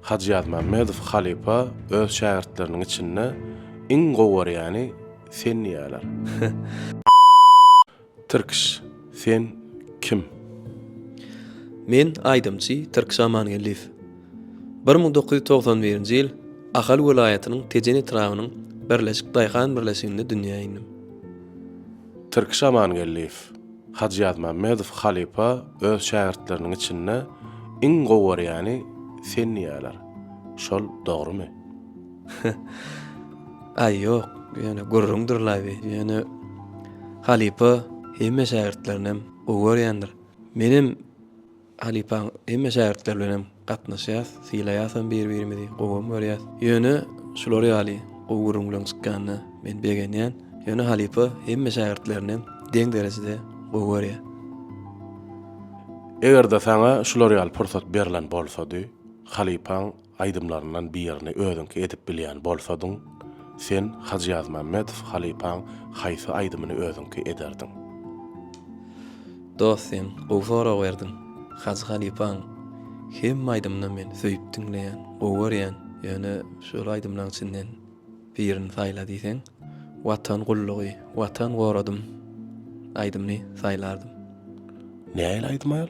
Hajy Ýazmämmedow halypa öz şägirtleriniň içinde iň gowy görýäni sen diýýärler. Tirkiş sen kim? Men aýdymçy Tirkiş Amangeldiýew. Bir müň dokuz ýüz togsan birinji ýyl Ahal welaýatynyň Tejen etrabynyň Birleşik daýhan birleşiginde dünýä indym. Tirkiş Amangeldiýew. Hajy Ýazmämmedow halypa öz şägirtleriniň içinde iň gowy görýäni sen diýýärler. Şol dogrumy? Aý ýok, ýöne gürrüňdir laby. Ýöne halypa hemme şägirtlerinem gowy görýändir. Menem Halypaň hemme şägirtleri bilen hem gatnaşýas, sylaýasam bir-birimizi, gowam görýäs. Ýöne şular ýaly gowy gürrüňleň çykýanyna men begenýän. Ýöne halypa hemme şägirtlerini hem deň derejede gowy görýär. Eger-de saňa şular ýaly pursat berlen bolsady, halypaň Aýdymlaryndan birini özüňki edip bilýän bolsadyň, sen Hajy Ýazmämmedow halypaň haýsy aýdymyny özüňki ederdiň? Dos sen gowy sorag berdiň. Hajy halypaň hemme aýdymyny men söýüp diňleýän, gowy görýän. Ýöne şol aýdymlaň içinden birini saýla diýseň, Watan gullugy, Watan goradym aýdymyny saýlardym. Nähili aýdym aýal?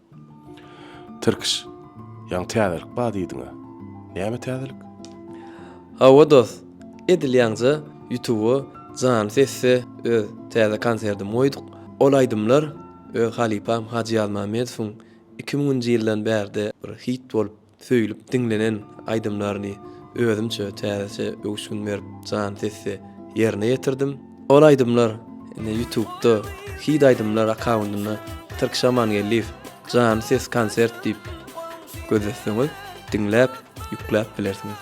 Tirkiş, ýaňy täzelik bar diýdiňä. Näme täzelik? Hawa dost, edil ýaňja ýutuba Jany sesde öz täze konsertimi goýduk. Ol aýdymlar öz halypam Hajy Ýazmammedowyň iki müňünji ýyldan bärde bir hit bolup Söýlüp diňlenen aýdymlaryny özümçe täzeçe öwüşgin berip jan sesde ýerine ýetirdim. Ol aýdymlar indi ýutubda Hit aýdymlar akkaundynda Türk Şamangeldiýew janly ses konsert diýip gözletseňiz diňläp ýükläp bilersiňiz.